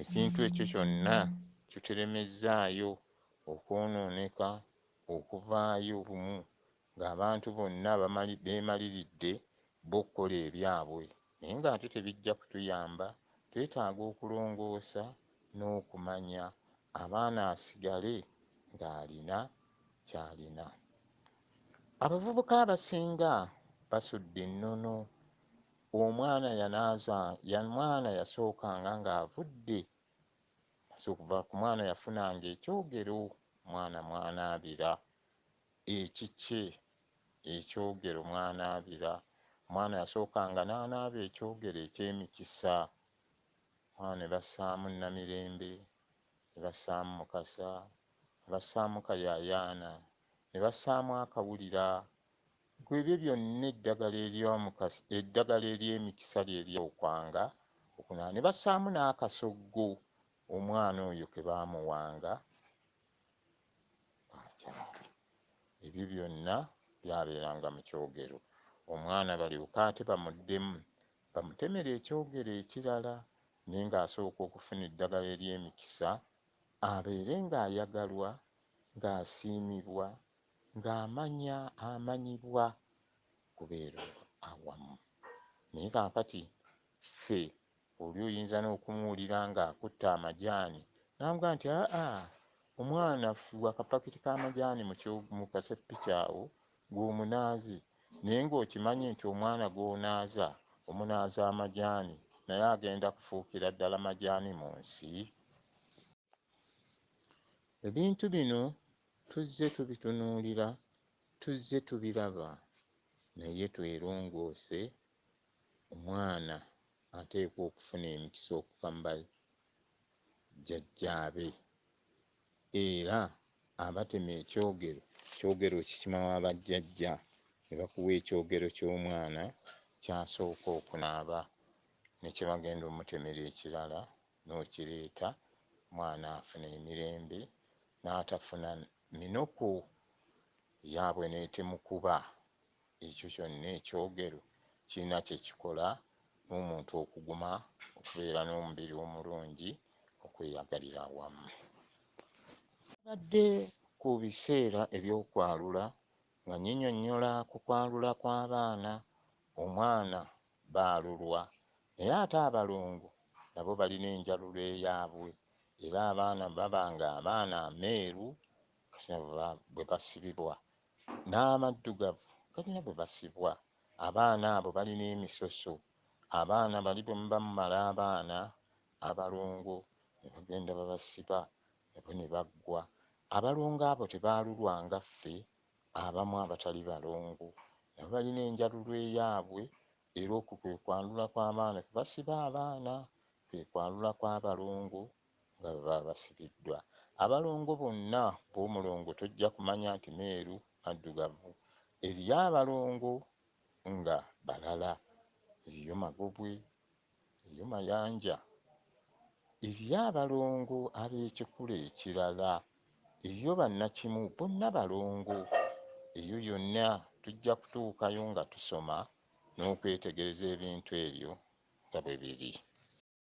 ekintu ekyo kyonna kitulemezzaayo okwonooneka okuvaayo bumu ng'abantu bonna beemaliridde bo okukola ebyabwe naye ng'ate tebijja kutuyamba twetaaga okulongoosa n'okumanya abaana asigale ng'alina ky'alina abavubuka abasinga basudde ennono Omwana yanaaza ya mwana yasookanga nga avudde okuva ku mwana yafunanga ekyogero mwana mwanaabira ekikye ekyogero mwanaabira omwana yasookanga n'anaaba ekyogero eky'emikisa mwana ne bassaamu Namirembe ne bassaamu Mukasa ne bassaamu Kayaayaana ne bassaamu akawulira Ggwe ebyo byonna eddagala ery'omukasa, eddagala ery'emikisa lye ly'okwanga okunaaba. Ne bassaamu n'akasoggo omwana oyo ke baamuwanga k'akyale. Ebyo byonna byabeeranga mu kyogero, omwana balyoke ate bamuddemu bamutemere ekyogero ekirala, naye ng'asooka okufuna eddagala ery'emikisa abeere ng'ayagalwa, ng'asiimibwa, ng'amanya amanyibwa kubeera awamu naye kaakati ffe oli oyinza n'okumuwulira ng'akutte amajaani n'amugamba nti aa omwana fuuwa akapakiti k'amajaani mu kaseppiki awo gwe omunaaze naye ng'okimanyi nti omwana gw'onaaza omunaaza amajaani naye agenda kufuukira ddala majaani mu nsi. Ebintu bino Tuzze tubitunuulira, tuzze tubiraba naye twerongoosse, omwana ateekwa okufuna emikisa okuva mu bajjajjaabe era abatema ekyogero, ekyogero okikima wa bajjajja ne bakuwa ekyogero ky'omwana ky'asooka okunaaba ne kye bagenda omutemera ekirala nokireeta mwana afuna emirembe natafuna minuku yabwe netemukuba ekyo kyonna ekyogero kirina kyekikola nomuntu okuguma okubeera nomubiri omulungi okweyagalira awamu. Bwabadde ku biseera ebyokwalula Nga nyinyonnyola ku kwalula kw'abaana, omwana baalulwa naye ate abalongo nabo balina enjalulo eyaabwe era abaana baba ng'abaana ameeru galina bwe basibibwa n'amaddugavu galina bwe basibwa, abaana abo balina emisoso, abaana bali bwe muba mumala abaana abalongo ne bagenda babasiba Nabo ne baggwa. Abalongo abo tebaalulwa nga ffe abamu abatali balongo. Nabo balina enjalulo eyaabwe, era okwo kwe kwanula kw'abaana kwe basiba abaana, kwe kwanula kw'abalongo nga bwe baba basibiddwa. Abalongo bonna b'omulongo tojja kumanya nti meeru, maddugavu. Eriyo abalongo nga balala. Eriyo magobwe, Eyo Mayanja eriyo abalongo ab'ekikula ekirala. Eriyo bannakimu bonna balongo. Eyo yonna tujja kutuukayo nga tusoma n'okwetegereza ebintu ebyo nga bwe biri.